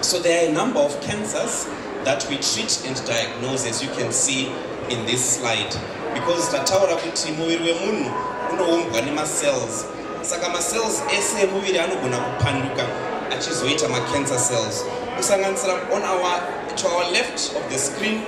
So there are a number of cancers that we treat and diagnose as you can see in this slide because tataura kuti muviri wemunhu unoumbwa nemacells saka macells ese emuviri anogona kupanduka achizoita macancer cells kusanganisira on our to our left of the screen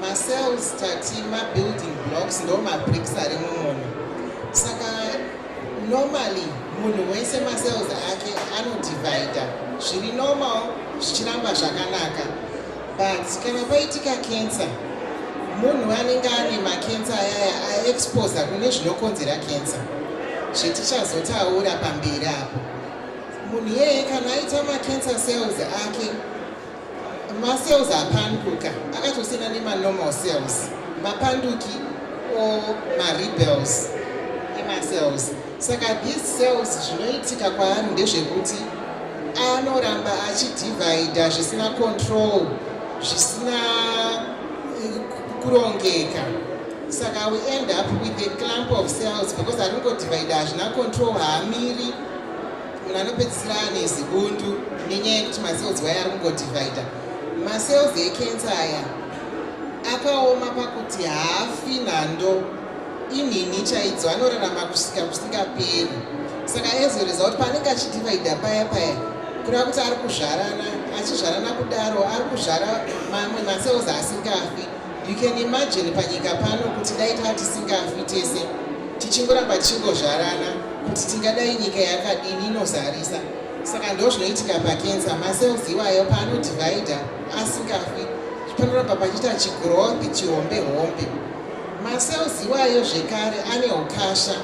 Ma cells tati ma building blocks ndo ma bricks ari mumunhu. Saka normally munhu wese ma cells ake ano divider zviri normal zvichiramba zvakanaka. But kana paitika cancer munhu anenge ane ma cancer ayaya a exposer kune zvinokonzera cancer. Zvetichazotaura pamberi apo. Munhu iyeye kana aita ma cancer cells ake macells apanduka akatosiyana nemanormal cells mapanduki o marebels emacells saka these cells zvinoitika kwaari ndezvekuti anoramba achidivhaidha zvisina control zvisina eh, kurongeka saka we end up with a clump of cells because aringodivhaidha hazvina control haamiri munhu anopedzisira ane zibundu nenyaya yekuti macells waya ari kungodividha macells ekensa aya akaoma pakuti haafi nhando inhini chaidzo anorarama kusvika kusingaperi saka aizoreza kuti paanenge achidividha paya paya kureva kuti ari kuzvarana achizvarana kudaro ari kuzvara mamwe macells asingafi You can imagine panyika pano kuti dai taa tisingafi tese tichingoramba tichingozvarana kuti tingadai nyika yakadini inozarisa saka ndo zvinoitika pakensa macells iwayo paanodivida asingafi panoramba pachiita chigrowth chihombe hombe macells iwayo zvekare ane ukasha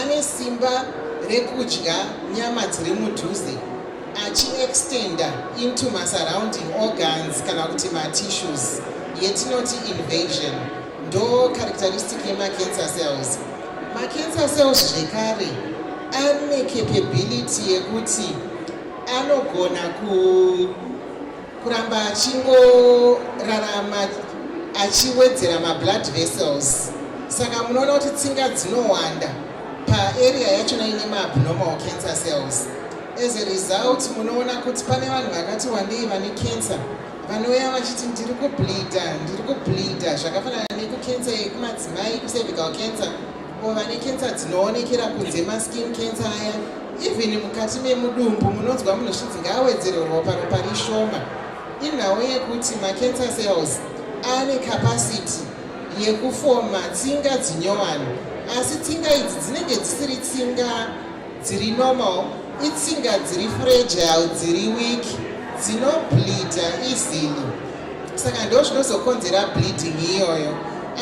ane simba rekudya nyama dziri mudhuze achiextenda into masurrounding organs kana kuti matissues yetinoti invasion ndo characteristic yemacancer cells macancer cells zvekare ane capability yekuti anogona ku kuramba achingorarama achiwedzera mablood vessels saka munoona kuti tsinga dzinowanda paarea yachona ine maabnormal cancer cells As a result munoona kuti pane vanhu vakati wandei vane cancer vanouya vachiti ndiri kubleeda ndiri kubleeda zvakafanana nekucancer yekumadzimai kucervical cancer o vane cancer dzinoonekera kunze maskin cancer aya even mukati memudumbu munonzwa munhu zvichinzi ngaawedzere ropa ropa rishoma inhau yekuti macancer cells ane capacity yekufoma tsinga dzinyowani asi tsinga idzi dzinenge dzisiri tsinga dziri normal itsinga dziri fragile dziri weak dzinobleeda easily saka ndo zvinozokonzera bleeding iyoyo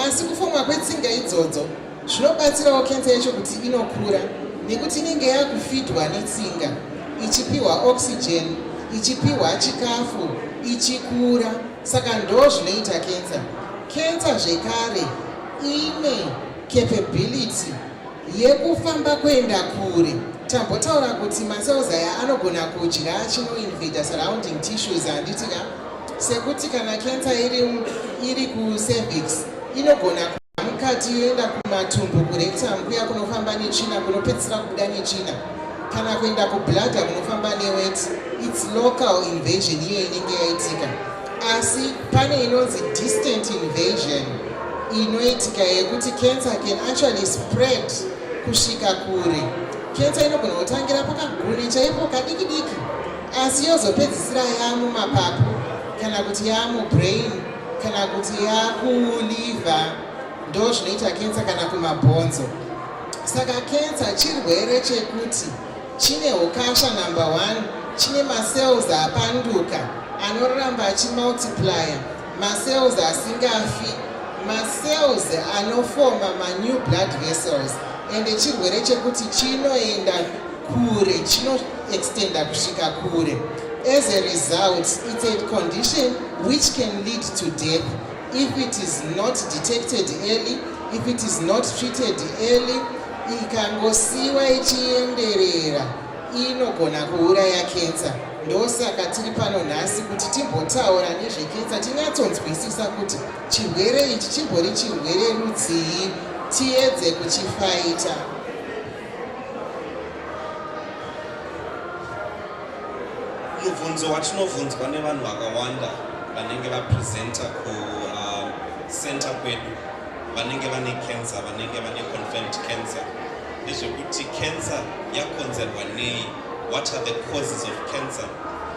asi kufomwa kwetsinga idzodzo zvinobatsirawo kensa yacho kuti inokura nekuti inenge yakufidwa netsinga ichipiwa oxygen ichipiwa chikafu ichikura saka ndo zvinoita kensa kensa zvekare ine capability yekufamba kuenda kure tambotaura kuti macells aya anogona kudya chinoinvader surrounding tissues handiti ka sekuti kana cancer iri, iri kucervix inogona kuda mukati yoenda kumatumbu kurectum kuya kunofamba netsvina kunopedzisira kubuda netsvina kana kuenda kubladder kunofamba newet its local invasion iyo inenge yaitika asi pane inonzi distant invasion inoitika yekuti cancer can actually spread kusvika kure cancer inogona kutangira pakaguni chaipo kadiki diki asi yozopedzisira yaamumapapu kana kuti yaamubrain kana kuti yaakuliva ndo zvinoita cancer kana kumabhonzo saka cancer chirwere chekuti Chine hukasha number one, chine macells apanduka anoramba achimultiplier, macells asingafi, macells anofoma manew blood vessels and chirwere chekuti chinoenda kure chinoextenda kusvika kure. As a result, it's a condition which can lead to death if it is not detected early, if it is not treated early, ikangosiiwa ichienderera inogona kuuraya kensa ndosaka tiri pano nhasi kuti timbotaura nezvekensa tinyatsonzwisisa kuti chirwere ichi chimbori chirwere rudzii tiedze kuchifaita mubvunzo watinobvunzwa nevanhu vakawanda vanenge vapresenta kucenter uh, kwedu vanenge vane cancer vanenge vane confirmed cancer ndezvekuti cancer yakonzerwa nei what are the causes of cancer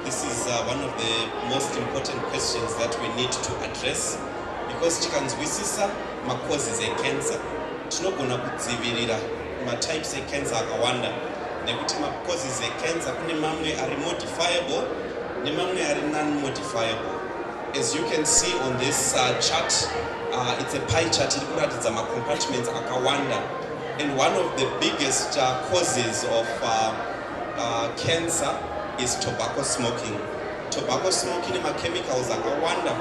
this is uh, one of the most important questions that we need to address because tikanzwisisa macauses ecancer tinogona kudzivirira matypes ecancer akawanda nekuti macauses ecancer kune mamwe ari modifiable nemamwe ari non modifiable As you can see on this uh, chart, uh, it's a pie chart iri kuratidza macompartments akawanda and one of the biggest uh, causes of uh, uh, cancer is tobacco smoking. Tobacco smoking nemachemicals akawanda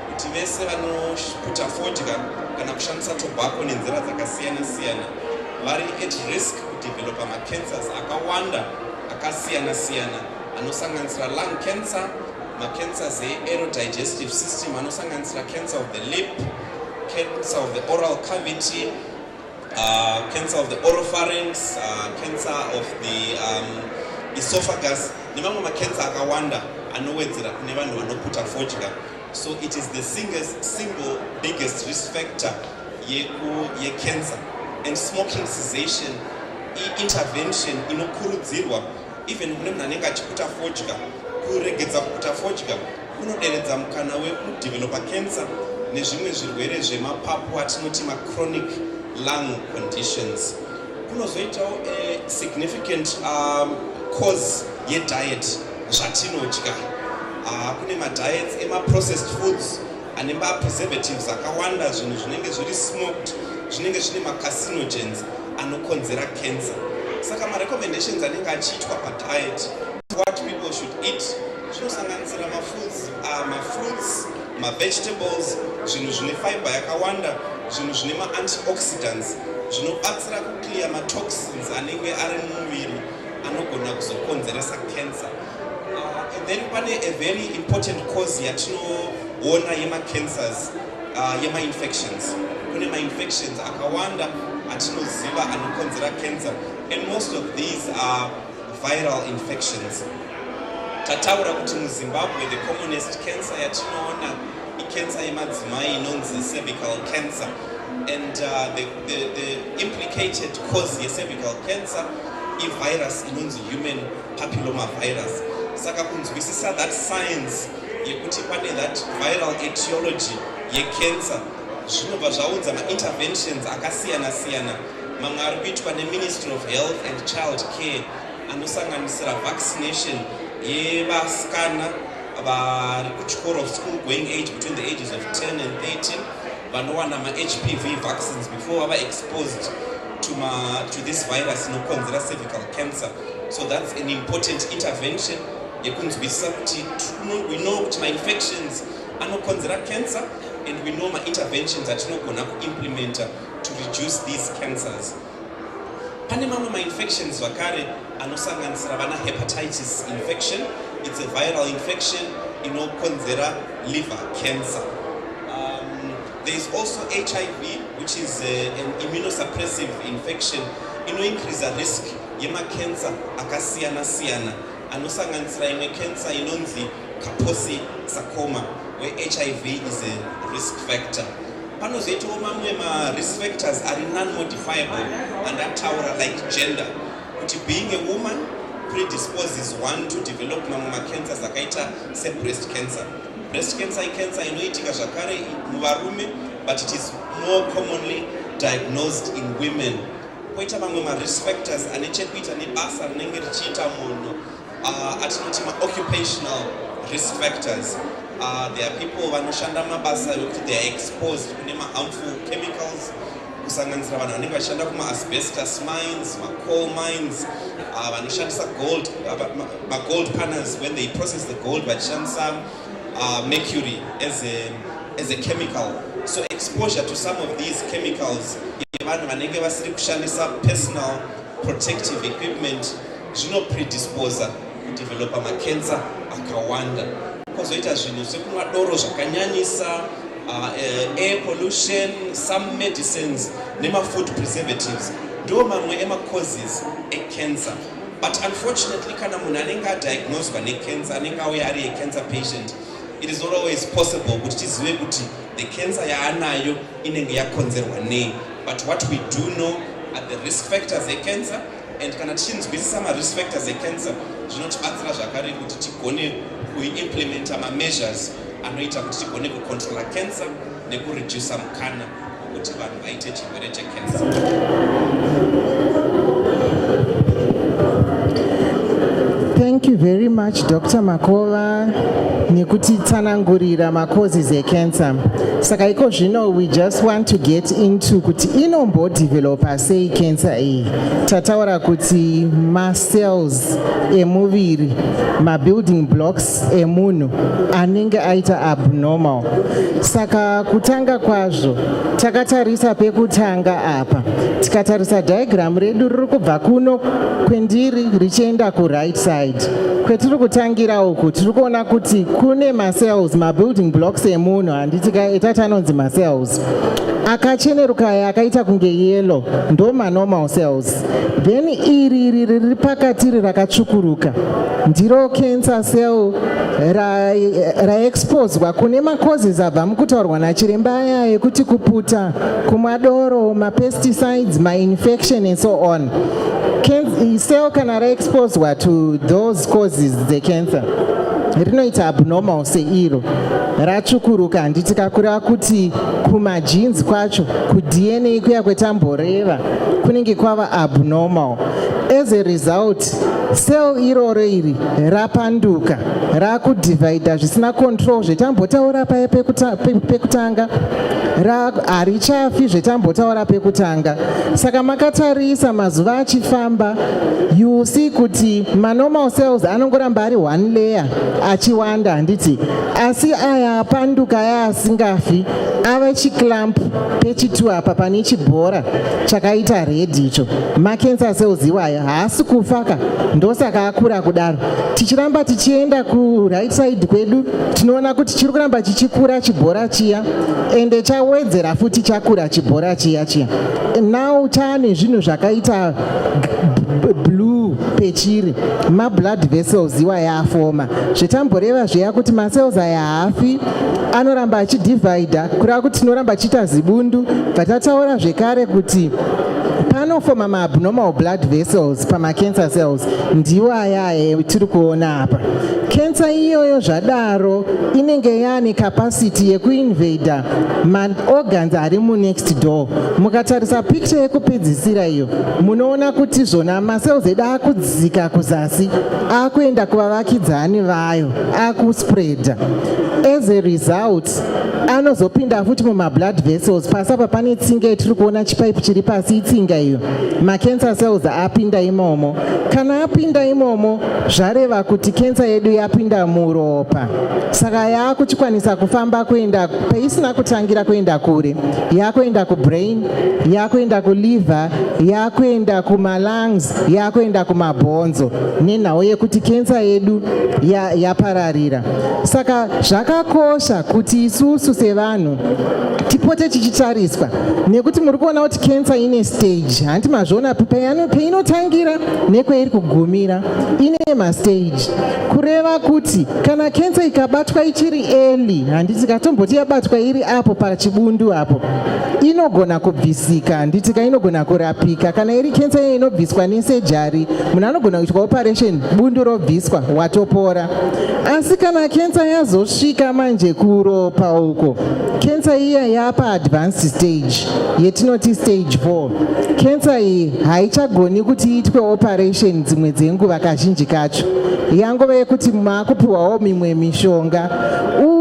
kuti vese vanoputa fodya kana kushandisa tobacco nenzira dzakasiyana-siyana vari at risk kudevelopa macancers akawanda akasiyana-siyana anosanganisira lung cancer macancers eaerodigestive system anosanganisira cancer of the lip cancer of the oral cavity uh, cancer of the oropharynx uh, cancer of the um, esophagus nemamwe macancer akawanda anowedzera kune vanhu vanoputa fodya so it is the singest, single biggest risk factor yecancer ye and smoking cessation intervention inokurudzirwa even kune munhu anenge achikuta fodya kuregedza kukuta fodya kunoderedza mukana wekudevelopa cancer nezvimwe zvirwere zvemapapu atinoti machronic lung conditions kunozoitawo eh, significant um, cause yediet zvatinodya ah, kune madiets emaprocessed foods ane mapreservatives akawanda zvinhu zvinenge zviri smoked zvinenge zvine macarcinogens anokonzera cancer saka marecommendations anenge achiitwa padiet what people should eat zvinosanganisira mafoods ah, mafruits mavegetables zvinhu zvine fiber yakawanda zvinhu zvine maantioxidants zvinobatsira kuclear matoxins anenge ari mumuviri anogona kuzokonzeresa cancer Uh, and then pane a very important cause yatinoona yemacancers uh, yemainfections kune mainfections akawanda atinoziva anokonzera cancer and most of these are viral infections tataura kuti muzimbabwe the commonest cancer yatinoona icancer yemadzimai inonzi cervical cancer and uh, the, the, the implicated cause yecervical cancer ivirus inonzi human papillomavirus saka kunzwisisa that science yekuti pane that viral etiology yecancer zvinobva zvaunza mainterventions akasiyana siyana mamwe ari kuitwa neministry of health and child care anosanganisira vaccination yevasikana vari kuchikoro of school going age between the ages of 10 and 13 vanowana mahpv vaccines before vava exposed to, ma, to this virus inokonzera cervical cancer So that's an important intervention yekunzwisisa kuti we know kuti mainfections anokonzera cancer and we know mainterventions atinogona kuimplementa to reduce these cancers pane mamwe mainfections zvakare anosanganisira vana hepatitis infection it's a viral infection inokonzera liver cancer um, there is also hiv which is a, uh, an immunosuppressive infection inoincreasa risk yemakensa akasiyana siyana anosanganisira imwe kensa inonzi kaposi sakoma wehiv is a risk factor panozoitawo mamwe marisk factors ari nonmodifiable and ataura like gender kuti being a woman predisposes one to develop mamwe macancers akaita sebreast cancer breast cancer icancer inoitika zvakare muvarume but it is more commonly diagnosed in women Koita mamwe marisk factors ane chekuita nebasa rinenge richiita munhu uh, atinoti maoccupational risk factors uh, there are people vanoshanda mabasa ekuti they are exposed kune maharmful chemicals kusanganisira vanhu vanenge vachishanda kumaasbestus mines macoal mines uh, vanoshandisa gold uh, magold paners when they process the gold vachishandisa Uh, mercury as a, as a chemical so exposure to some of these chemicals yevanhu vanenge vasiri kushandisa personal protective equipment zvinopredisposa kudevelopa makensa akawanda kozoita zvinhu sekunwa doro zvakanyanyisa uh, uh, air pollution some medicines nemafood preservatives ndo mamwe emacauses ecancer but unfortunately kana munhu anenge adiagnoswa necancer anenge auya ari yecancer patient it is not always possible kuti tizive kuti the cancer yaanayo inenge yakonzerwa nei but what we do know are the risk factors ecancer and kana tichinzwisisa marisk factors ecancer zvinotibatsira zvakare kuti tigone kuimplementa mameasures anoita kuti tigone kucontrola cancer nekuredusa mukana kuti vanhu vaite chirwere chekensa Thank you very much Dr. Makova nekutitsanangurira macauses ecancer. Saka iko zvino we just want to get into kuti inombodevelopa sei cancer iyi. Tataura kuti macells emuviri, mabuilding blocks emunhu anenge aita abnormal saka kutanga kwazvo takatarisa pekutanga apa tikatarisa diagram redu riri kubva kuno kwendiri richienda kuright side kwetiri kutangira uku tiri kuona kuti kune macells mabuilding blocks emunhu handiti ka etati anonzi macells akacheneruka aya akaita kunge yellow ndo manormal cells then iri iri riri pakatiri rakatsvukuruka ndiro cancer cell raexposwa ra kune macauses abva mukutaurwa nachiremba aya yekuti kuputa kumwa doro mapesticides mainfection and so on cell kana raexposwa to those causes dzecancer rinoita abnormal seiro ratsvukuruka handiti kakureva kuti kumajinzi kwacho kudna kuya kwetamboreva kunenge kwava abnormal as a result cell iroro iri rapanduka rakudivhaidha zvisina control zvetambotaura paye pekutanga harichafi zvetambotaura pekutanga saka makatarisa mazuva achifamba you see kuti manormal cells anongoramba ari one layer achiwanda handiti asi aya apanduka aya asingafi ave chiclamp pechitu apa pane chibhora chakaita red icho macancer cells iwaya haasi kufa ka ndosaka akura kudaro tichiramba tichienda kuright side kwedu tinoona kuti chiri kuramba chichikura chibhora chiya ende chawedzera futi chakura chibhora chiya chiya now chaane zvinhu zvakaita blue pechiri mablood vessels iwa yaafoma zvetamboreva zviya kuti macells aya haafi anoramba achidivhaidha kureva kuti tinoramba chiita zibundu bva tataura zvekare kuti panofoma maabnormal blood vessels pamacancer cells ndiwo ayaye tiri kuona apa cancer iyoyo zvadaro inenge yaane capacity yekuinvader maorgans ari munext door mukatarisa picture yekupedzisira iyo munoona kuti zvona macells edu akudzika kuzasi akuenda kuvavakidzani vayo akuspreada as a result anozopinda futi mumablood vessels pasi apa pane tsinga yatiri kuona chipaipi chiri pasi itsinga iyo macancer cells apinda imomo kana apinda imomo zvareva kuti kensa yedu yapinda muropa saka yaakuchikwanisa kufamba kuenda paisina kutangira kuenda kure yaakuenda kubrain yaakuenda kuliver yaakuenda kumalungs yaakuenda kumabhonzo nenhau yekuti kensa yedu yapararira ya saka zvakakosha kuti isusu sevanhu tipote tichitariswa nekuti muri kuona kuti kensa ine stage hanti mazviona peinotangira nekweiri kugumira ine mastage kureva kuti kana kensa ikabatwa ichiri eli handiti katomboti yabatwa iri apo pachibundu apo inogona kubvisika handiti ka inogona kurapika kana iri kensa iye inobviswa nesejari munhu anogona kuitwa operation bundu robviswa watopora asi kana kensa yazosvika manje kuropa uko kensa iya yapa advanced stage yetinoti stage 4 kensa iyi haichagoni kuti iitwe operation dzimwe dzenguva kazhinji kacho yangova yekuti maakupiwawo mimwe mishonga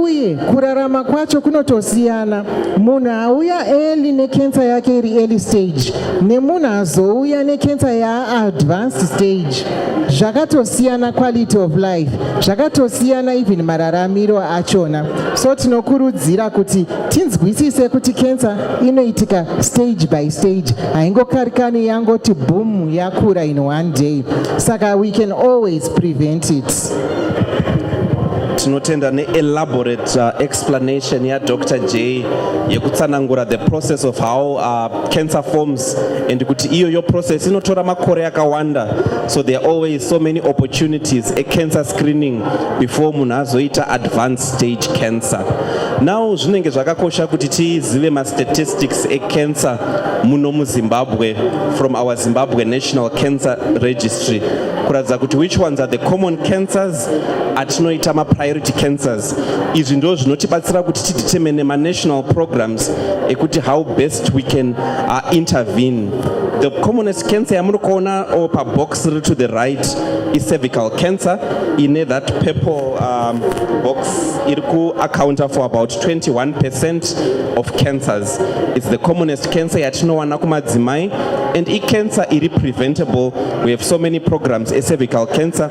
uye kurarama kwacho kunotosiyana munhu auya eli nekensa yake iri eli stage nemunhu azouya nekensa yaaadvanced stage zvakatosiyana quality of life zvakatosiyana even mararamiro achona so tinokurudzira kuti tinzwisise kuti cancer inoitika stage by stage haingokarikani yangoti boom yakura in one day saka we can always prevent it tinotenda neelaborate uh, explanation yadr j yekutsanangura the process of how uh, cancer forms and kuti iyoyo process inotora makore akawanda so there are always so many opportunities a cancer screening before munhu azoita advanced stage cancer now zvinenge zvakakosha kuti tizive mastatistics ecancer muno muzimbabwe from our zimbabwe national cancer registry kuratidza kuti which ones are the common cancers atinoita mapriority cancers izvi ndo zvinotibatsira kuti tidetermine manational programs ekuti how best we can uh, intervene the commonest cancer yamuri kuona or pabox riri to the right icervical cancer ine that purple um, box iri kuaccounta for about 21 percent of cancers its the commonest cancer yatinowana kumadzimai and icancer iri preventable we have so many programs ecervical cancer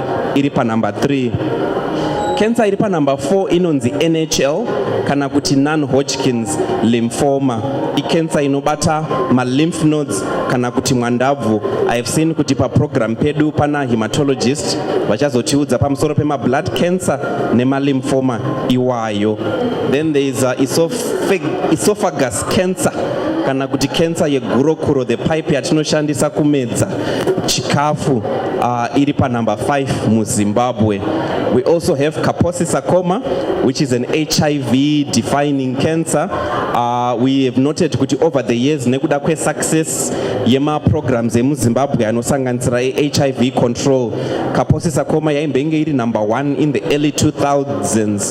iri panumber 3 kensa iri panumber 4 inonzi nhl kana kuti non-hodgkins lymphoma ikensa inobata malymph nodes kana kuti mwandabvu ihave seen kuti paprogram pedu pana hematologist vachazotiudza pamusoro pemablood cancer nemalymphoma iwayo then there is uh, esophagus Cancer kana kuti kensa yegurokuro the pipe yatinoshandisa kumedza chikafu uh, iri panumber 5 muzimbabwe we also have kaposi sarcoma which is an hiv defining cancer uh, we have noted kuti over the years nekuda kwesuccess yemaprograms emuzimbabwe anosanganisira ehiv control kaposi sarcoma yaimbenge iri number 1 in the early 2000s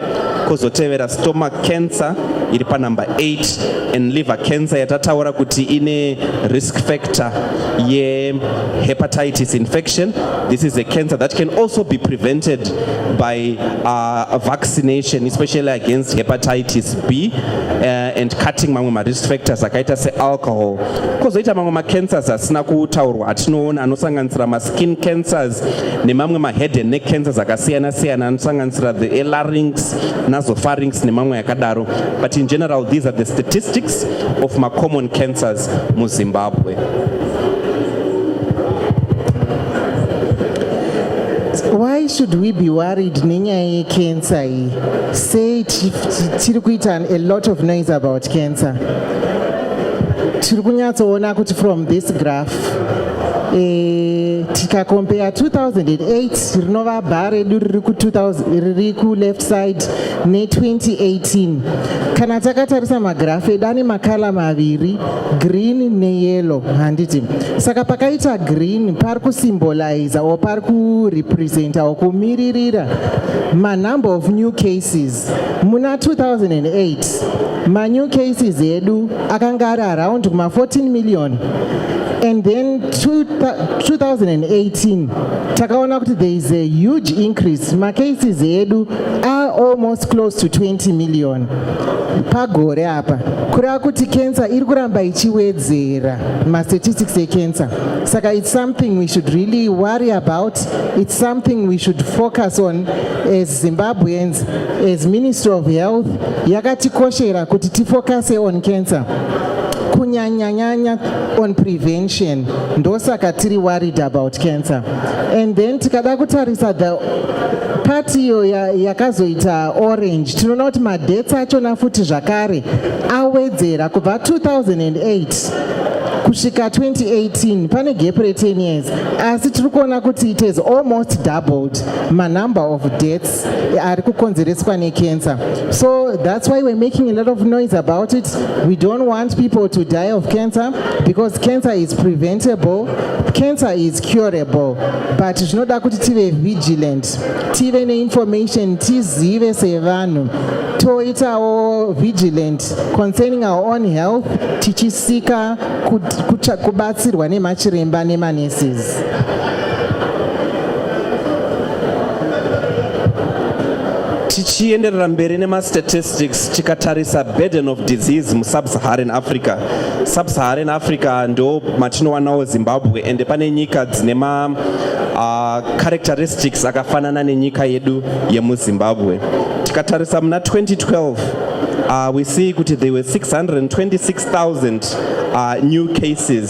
kozotevera stomach cancer iri panumber 8 and liver cancer yatataura kuti ine risk factor yehepatitis infection this is a cancer that can also be prevented by uh, vaccination especially against hepatitis b uh, and cutting mamwe marisk factors akaita sealcohol kozoita mamwe macancers asina kutaurwa atinoona anosanganisira skin cancers nemamwe mahead and neck cancers akasiyana siyana anosanganisira the elarynx nasopharynx nemamwe yakadaro but in general these are the statistics of macommon cancers muzimbabwe why should we be worried nenyaya yecancer iyi sei tiri kuita a lot of noise about cancer tiri kunyatsoona kuti from this graph Eh, tikakompea 2008 rinova bha redu riri kuleft side ne2018 kana takatarisa magirafu edu ane makala maviri green neyellow handiti saka pakaita green pari kusymboliza or pari kurepresenta or kumiririra manumber of new cases muna 2008 manew cases edu akanga ari around kuma 14 million and then 2018 takaona kuti there is a huge increase macases edu are almost close to 20 million pagore apa kureva kuti cancer iri kuramba ichiwedzera mastatistics ecancer saka it's something we should really worry about it's something we should focus on as zimbabweans As Ministry of Health yakatikoshera kuti tifocuse on cancer kunyanyanyanya on prevention ndosaka tiri worried about cancer and then tikada kutarisa the pati iyo yakazoita orange tinoona kuti madhets achona futi zvakare awedzera kubva 2008 kusvika 2018 pane gap re10 years asi tiri kuona kuti it has almost doubled manumber of deaths ari kukonzereswa necancer so that's why we're making a lot of noise about it we don't want people to die of cancer because cancer is preventable cancer is curable but zvinoda kuti tive vigilant tive neinformation tizive sevanhu toitawo vigilant concerning our own health tichisika kubatsirwa nemachiremba nemaneses tichienderera mberi nemastatistics tikatarisa burden of disease musubsaharan africa subsaharan africa ndo matinowanawo zimbabwe ende pane nyika dzine ma uh, characteristics akafanana nenyika yedu yemuzimbabwe tikatarisa muna 2012 uh, ah, we see kuti there were 626000 uh, ah, new cases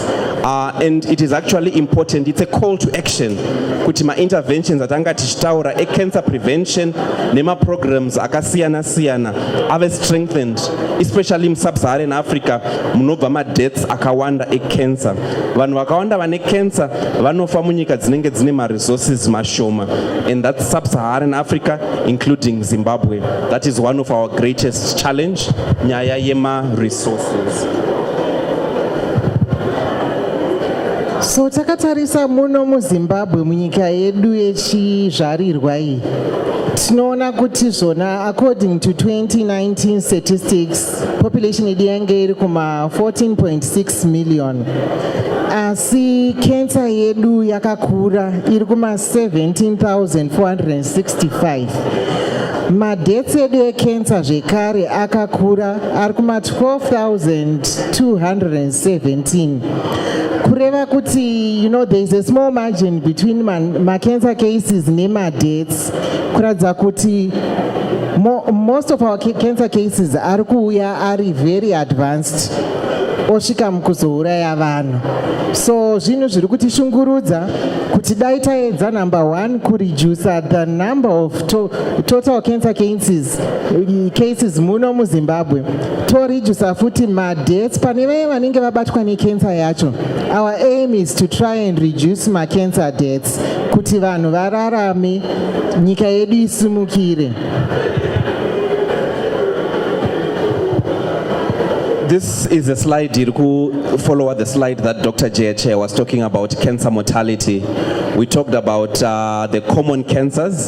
Uh, and it is actually important it's a call to action kuti mainterventions atanga tichitaura ecancer prevention nemaprograms akasiyana siyana ave strengthened especially musubsaharan africa munobva madeaths akawanda ecancer vanhu vakawanda vane cancer vanofa munyika dzinenge dzine maresources mashoma and that subsaharan africa including zimbabwe that is one of our greatest challenge nyaya yemaresource so takatarisa muno muzimbabwe munyika yedu yechizvarirwa iyi tinoona kuti zvona according to 2019 statistics population yedu yange iri kuma 14.6 million asi kensa yedu yakakura iri kuma 17465 madhets edu ekensa zvekare akakura ari kuma 12217 kureva kuti you know there is a small margin between macancer cases nemadeaths kuratidza kuti mo, most of our cancer cases ari kuuya ari very advanced osvika mukuzouraya vanhu so zvinhu zviri kutishungurudza kuti dai taedza number one kureducer the number of to, total cancer cases cases muno muzimbabwe toredusa futi madeaths pane vaye vanenge vabatwa necancer yacho our aim is to try and reduce macancer deaths kuti vanhu vararame nyika yedu isimukire this is a slide iri kufollowa the slide that dr jehche was talking about cancer mortality we talked about uh, the common cancers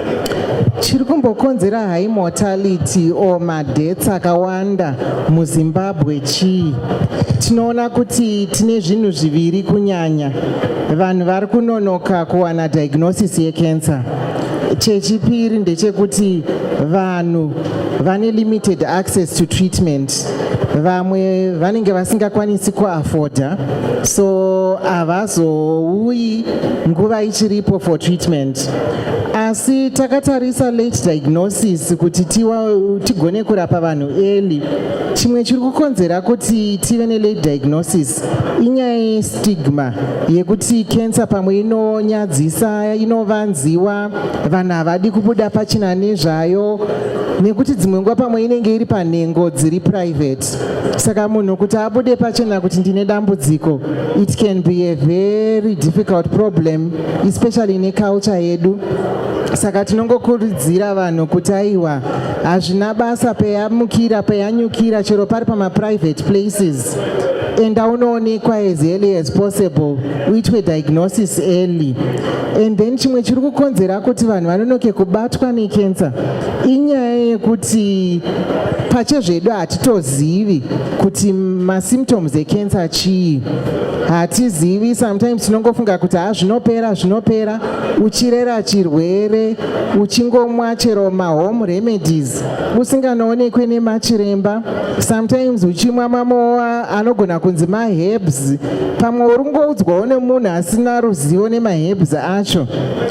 chiri kumbokonzera high mortality or madeaths akawanda muzimbabwe chii tinoona kuti tine zvinhu zviviri kunyanya vanhu vari kunonoka kuwana diagnosis yecancer chechipiri ndechekuti vanhu vane limited access to treatment vamwe vanenge vasingakwanisi kuafoda so havazouyi nguva ichiripo for treatment asi takatarisa late diagnosis kuti tigone kurapa vanhu early chimwe chiri kukonzera kuti tive nelate diagnosis inyaya yestigma yekuti cancer pamwe inonyadzisa inovanziwa vanhu havadi kubuda pachina nezvayo nekuti dzimwe nguva pamwe inenge iri panhengo dziri private saka munhu kuti abude pachena kuti ndine dambudziko it can be a very difficult problem especially neculture yedu saka tinongokurudzira vanhu kuti aiwa hazvina basa peyamukira peyanyukira chero pari pamaprivate places enda unoonekwa as early as possible uitwe diagnosis early and then chimwe chiri kukonzera kuti vanhu vanonoke kubatwa necancer inyaya yekuti pachezvedu hatitozivi kuti masymptoms ecancer chii hatizivi sometimes tinongofunga kuti ha zvinopera zvinopera uchirera chirwere uchingomwa chero mahome remedies usinganoonekwe nemachiremba sometimes uchimwa mamowa anogona kunzi maherbs pamwe uri kungoudzwawo nemunhu asina ruzivo nemaherbs acho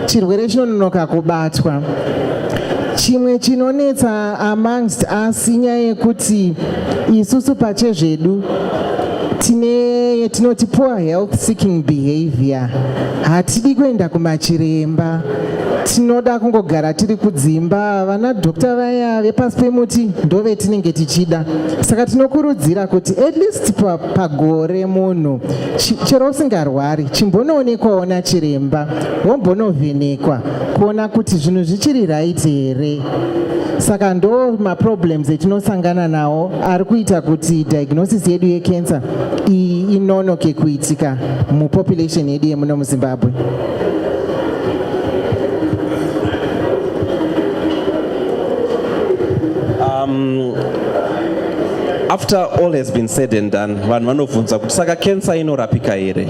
chirwere chinononoka kubatwa Chimwe chinonetsa amongst us inyaya yekuti isusu pachezvedu tine yatinoti poor health seeking behavior hatidi kuenda kumachiremba tinoda kungogara tiri kudzimba vana dhokta vaya vepasi pemuti ndove tinenge tichida saka tinokurudzira kuti at least pagore munhu chero usingarwari chimbonoonekwawo nachiremba wombonovhenekwa kuona kuti zvinhu zvichiri right here saka ndo maproblems etinosangana nawo ari kuita kuti diagnosis yedu yecancer iyi inonoke kuitika mupopulation yedu yemuno muzimbabwe um, after all has been said and done vanhu vanobvunza kuti saka cancer inorapika here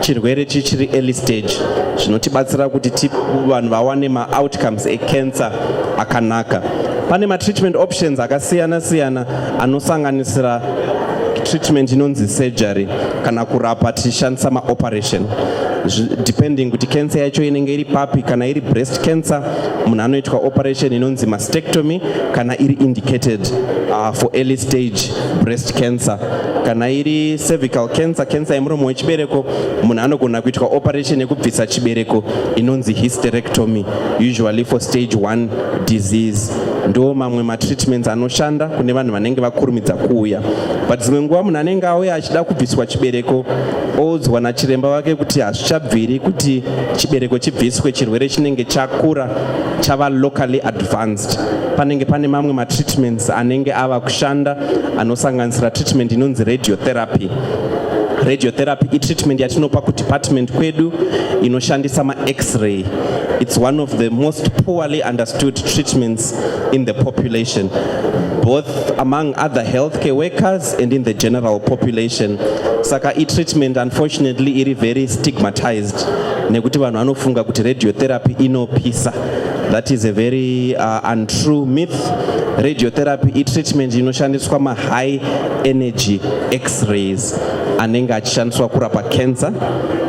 chirwere chichiri early stage zvinotibatsira kuti vanhu vawane maoutcomes ecancer akanaka pane matreatment options akasiyana siyana anosanganisira treatment inonzi surgery kana kurapa tichishandisa maoperation depending kuti cancer yacho inenge iri papi kana iri breast cancer munhu anoitwa operation inonzi mastectomy kana iri indicated uh, for early stage breast cancer kana iri cervical cancer cancer yemuromo wechibereko munhu anogona kuitwa operation yekubvisa chibereko inonzi hysterectomy usually for stage 1 disease ndo mamwe matreatments anoshanda kune vanhu vanenge vakurumidza kuuya but dzimwe nguva munhu anenge auya achida kubviswa chibereko oudzwa nachiremba vake kuti hazvichabviri kuti chibereko chibviswe chirwere chinenge chakura chava locally advanced panenge pane mamwe matreatments anenge ava kushanda anosanganisira treatment inonzi radiotherapy radiotherapy itreatment yatinopa kudepartment kwedu inoshandisa max-ray it's one of the most poorly understood treatments in the population both among other healthcare workers and in the general population saka itreatment unfortunately iri very stigmatized nekuti vanhu vanofunga kuti radiotherapy inopisa That is a very uh, untrue myth. Radiotherapy itreatment inoshandiswa ma high energy x-rays anenge achishandiswa kurapa cancer.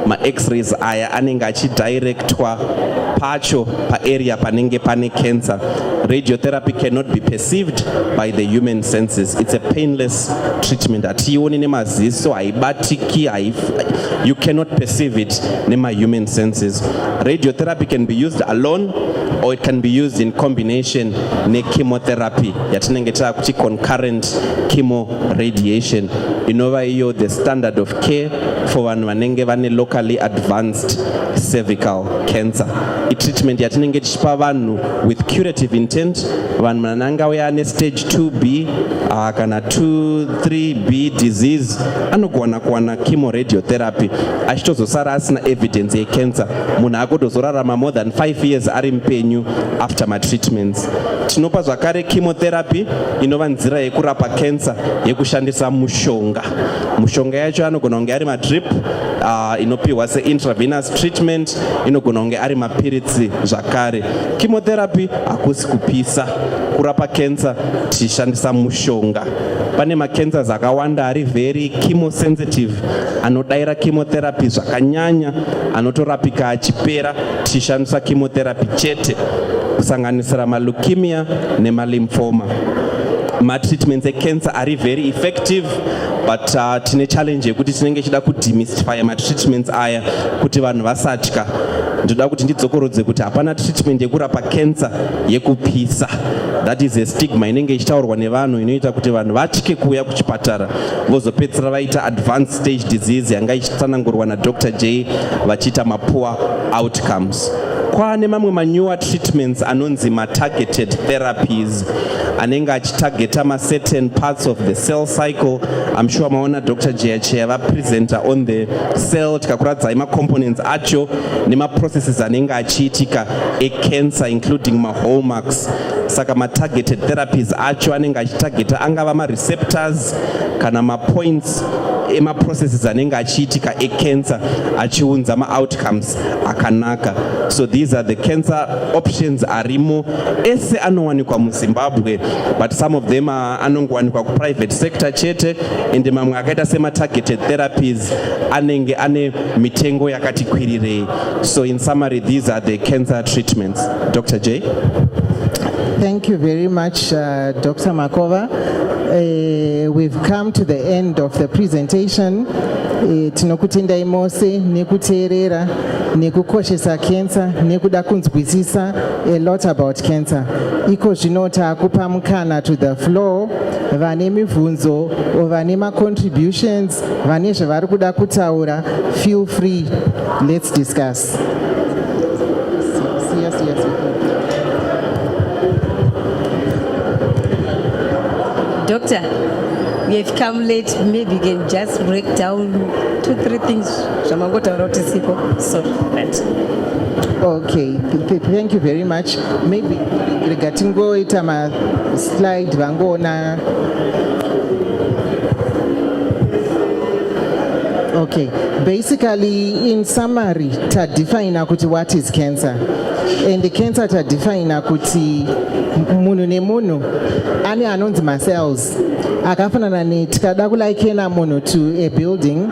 Ma x-rays aya anenge achidirectwa pacho pa area panenge pane cancer. Radiotherapy cannot be perceived by the human senses. It's a painless treatment. Hatiioni nemaziso, haibatiki, you cannot perceive it nema human senses. Radiotherapy can be used alone or it can be used in combination nechemotherapy yatinenge taakuti concurrent chemo radiation inova iyo the standard of care for vanhu vanenge vane locally advanced cervical cancer itreatment yatinenge tichipa vanhu with curative intent vanhu vanangauya ane stage 2b uh, ah, kana 2 3B disease anogona kuwana chemo radiotherapy achitozosara asina evidence yecancer munhu akotozorarama more than 5 years ari mupenyu after matreatments tinopa zvakare chemotherapy inova nzira yekurapa cancer yekushandisa mushonga mushonga yacho anogona kunge ari madrip uh, inopiwa seintravenous treatment inogona kunge ari mapiritsi zvakare chemotherapy hakusi kupisa kurapa cancer tichishandisa mushonga pane macancers akawanda ari very chemosensitive anodaira chemotherapy zvakanyanya anotorapika achipera tichishandisa chemotherapy chete kusanganisira maleukemia nemalimfoma matreatments ecancer ari very effective but uh, tine challenge yekuti tinenge chida kudemystifya matreatments aya kuti vanhu vasatya ndoda kuti ndidzokorodze kuti hapana treatment yekurapa cancer yekupisa that is a stigma inenge ichitaurwa nevanhu inoita kuti vanhu vatye kuuya kuchipatara vozopedzisira vaita advanced stage disease yanga ichitsanangurwa nadr j vachiita mapoor outcomes kwaane mamwe manewer treatments anonzi matargeted therapies anenge achitargeta macertain parts of the cell cycle im sure maona dr jeacheya vapresenter on the cell tikakuradzai macomponents acho nemaprocesses anenge achiitika ecancer including mahallmarks saka matargeted therapies acho anenge achitargeta angava mareceptors kana mapoints emaprocesses anenge achiitika ecancer achiunza maoutcomes akanaka so these are the cancer options arimo ese anowanikwa muzimbabwe but some of them anongowanikwa kuprivate sector chete ende mamwe akaita sematargeted therapies anenge ane mitengo yakati kwirirei So in summary, these are the cancer treatments. Dr. J? Thank you very much, uh, Dr. Makova. Uh, we've come to the end of the presentation. Uh, tinokutendai mose nekuteerera nekukoshesa cancer nekuda kunzwisisa a lot about cancer iko zvino taakupa mukana to the floor vane mibvunzo or vane macontributions vane zvavari kuda kutaura feel free let's discuss doctor we have come late maybe you can just break down two three things zvamangotaura kuti sipo so that okay thank you very much maybe rega tingoita maslide vangoona Okay, basically in summary tadefina kuti what is cancer and the cancer tadefina kuti munhu nemunhu ane anonzi macells akafanana ne tikada kulikena munhu to a building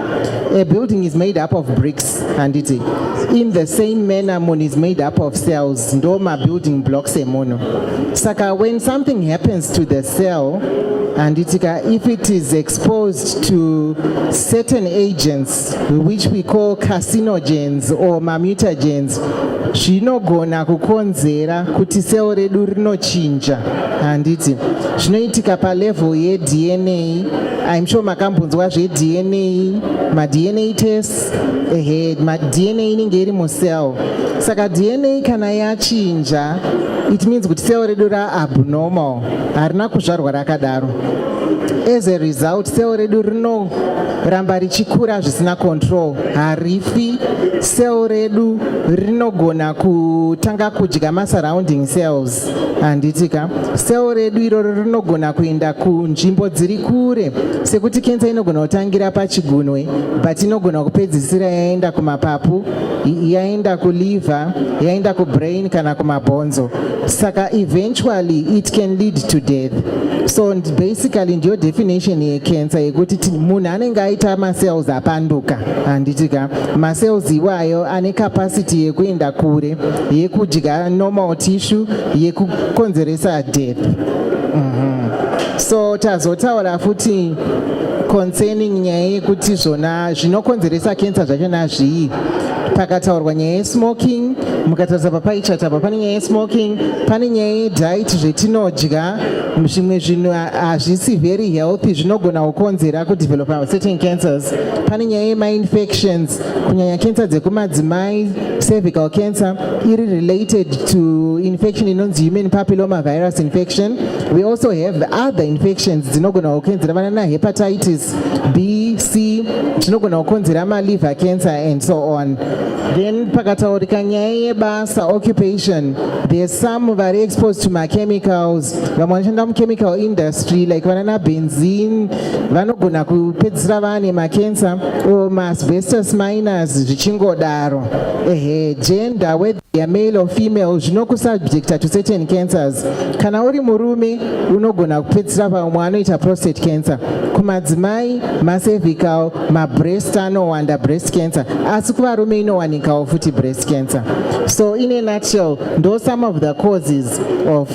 a building is made up of bricks handiti in the same manner munhu is made up of cells ndo mabuilding blocks emunhu saka when something happens to the cell handiti ka if it is exposed to certain agents which we call carcinogens or mamutagens zvinogona kukonzera kuti cell redu rinochinja handiti zvinoitika palevel yedna im sure makambonzwa zvedna madna test ehe madna inenge iri mucell saka dna kana yachinja it means kuti cell redu raabnormal harina kuzvarwa rakadaro as a result cell redu rinoramba richikura zvisina control harifi cell redu rinogona kutanga kudya masurrounding cells handitika sel redu iroro rinogona kuenda kunzvimbo dziri kure sekuti kensa inogona kutangira pachigunwe but inogona kupedzisira yaenda kumapapu yaenda kuliver yaenda kubrain kana kumabhonzo saka eventually it can lead to death so basically ndiyo definition yekensa yekuti munhu anenge aita macells apanduka handitika macells iwayo ane capacity yekuenda kure yekudya normal tissue yekukonzeresa death mm -hmm. so tazotaura futi concerning nyaya yekuti zvona zvinokonzeresa kensa zvacho nazvii pakataurwa nyaya yesmoking mukatarisa papaichata pa pane nyaya yesmoking pane nyaya yediet zvetinodya zvimwe zvinhu hazvisi very healthy zvinogona kukonzera kudevelopa certain cancers pane nyaya yemainfections kunyanya cancer dzekumadzimai cervical cancer iri related to infection inonzi human papilloma virus infection we also have other infections dzinogona kukonzera vana na hepatitis b c zvinogona kukonzera maliver cancer and so on then pakataurika nyaya yebasa occupation there's some vari exposed to machemicals vamwe vanoshanda muchemical industry like vana na benzine vanogona kupedzisira vane makensa or maasbestus minors zvichingodaro ehe gender whether you're male or female zvinokusubjecta to certain cancers kana uri murume unogona kupedzisira pamwe anoita prostate cancer kumadzimai macervical mabreast anowanda breast cancer asi kuvarume inowanikawo futi breast cancer so in a nutshell ndo some of the causes of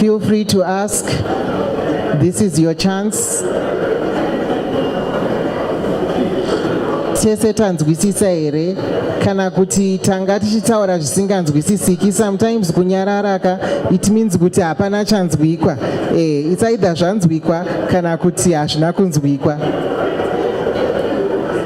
Feel free to ask. This is your chance. tese tanzwisisa here kana kuti tanga tichitaura zvisinganzwisisiki sometimes kunyararaka it means kuti hapana chanzwikwa e, it's either zvanzwikwa kana kuti hazvina kunzwikwa